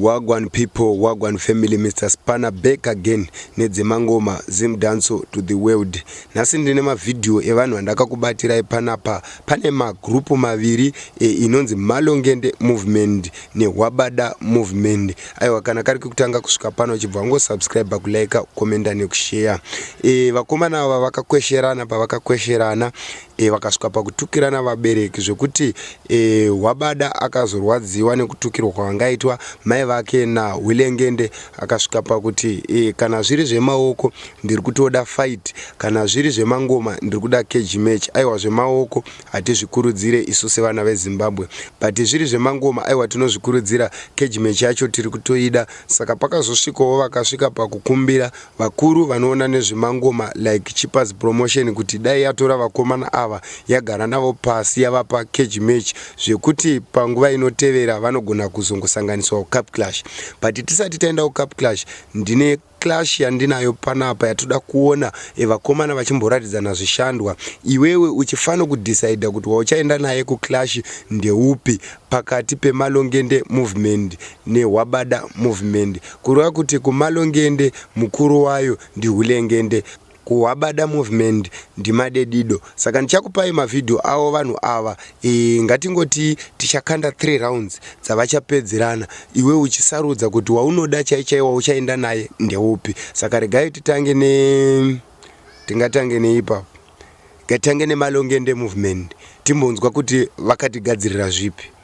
Wagwan people, Wagwan family, Mr. Spanner back again nedzemangoma Zim Danso to the world. Nhasi ndine mavideo evanhu vandakakubatirai panapa. Pane magrupu maviri e, inonzi Malongende movement neHwabada movement. aiwa kana kari kekutanga kusvika pano uchibva wangosubscribe kulike ukomenda nekusheya e, vakomana ava vakakwesherana pavakakwesherana e, vakasvika pakutukirana vabereki zvekuti e, wabada akazorwadziwa nekutukirwa kwavangaitwa mai vake nahwilengende akasvika pakuti e, kana zviri zvemaoko ndiri kutoda fight kana zviri zvemangoma ndiri kuda keji match aiwa zvemaoko Hatizvikurudzire isu sevana veZimbabwe but zviri zvemangoma aiwa tinozvikurudzira cage match yacho tiri kutoida saka pakazosvikawo vakasvika pakukumbira vakuru vanoona nezvemangoma like Chippers Promotion kuti dai yatora vakomana ava yagara navo pasi yavapa cage match zvekuti panguva inotevera vanogona kuzongosanganiswa kuCup Clash but tisati taenda kuCup Clash ndine Clash yandinayo panapa yatoda kuona vakomana vachimboratidzana zvishandwa iwewe uchifano kudecider kuti wauchaenda naye kuclash ndeupi pakati pemalongende movement nehwabada movement kureva kuti kumalongende mukuru wayo ndihulengende Kuhwabada movement ndimadedido saka ndichakupai mavideo avo vanhu ava ee ngatingoti tichakanda three rounds dzavachapedzerana iwe uchisarudza kuti waunoda chaichai wauchaenda naye ndeupi saka regai titange ne tingatange neipapo ngatange nemalongende movement timbonzwa kuti vakatigadzirira zvipi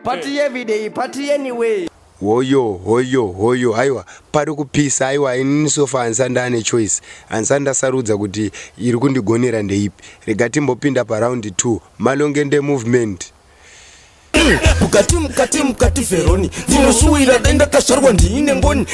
Party eh. every day, party anyway. Hoyo, hoyo, hoyo, haiwa, pari kupisa, haiwa, inini sofa hansanda ane choice. Hansanda sarudza kuti iri kundigonera ndeipi. Rega timbopinda paround 2, malongende movement. mukati mukati mukati veroni ndinoshuwira dai ndakazvarwa ndiine ngoni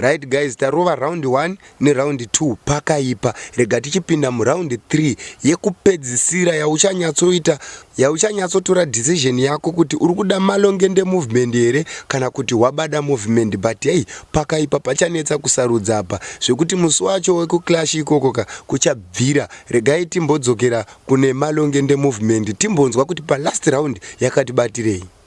Right guys tarova round 1 neround 2 pakaipa rega tichipinda muround 3 yekupedzisira yauchanyatsoita yauchanyatsotora decision yako kuti uri kuda malongende movement here kana kuti wabada movement but hei pakaipa pachanetsa kusarudza apa zvekuti musi wacho wekuclash ikoko ka kuchabvira regai timbodzokera kune malongende movement timbonzwa kuti palast round yakatibatirei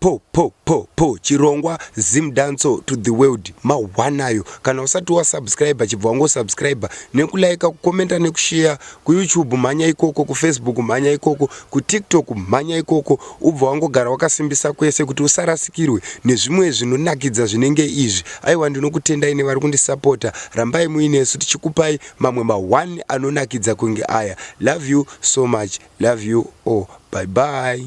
Po po po po chirongwa Zim Danco to the world mawanayo kana usati wa subscriber chibva wango subscriber neku like ku commenta neku share ku YouTube mhanya ikoko ku Facebook mhanya ikoko ku TikTok mhanya ikoko ubva wangogara wakasimbisa kwese kuti usarasikirwe nezvimwe zvinonakidza zvinenge izvi aiwa ndinokutendai nevari kundisapota rambai muinesu tichikupai mamwe ma one anonakidza kunge aya love you so much love you all bye bye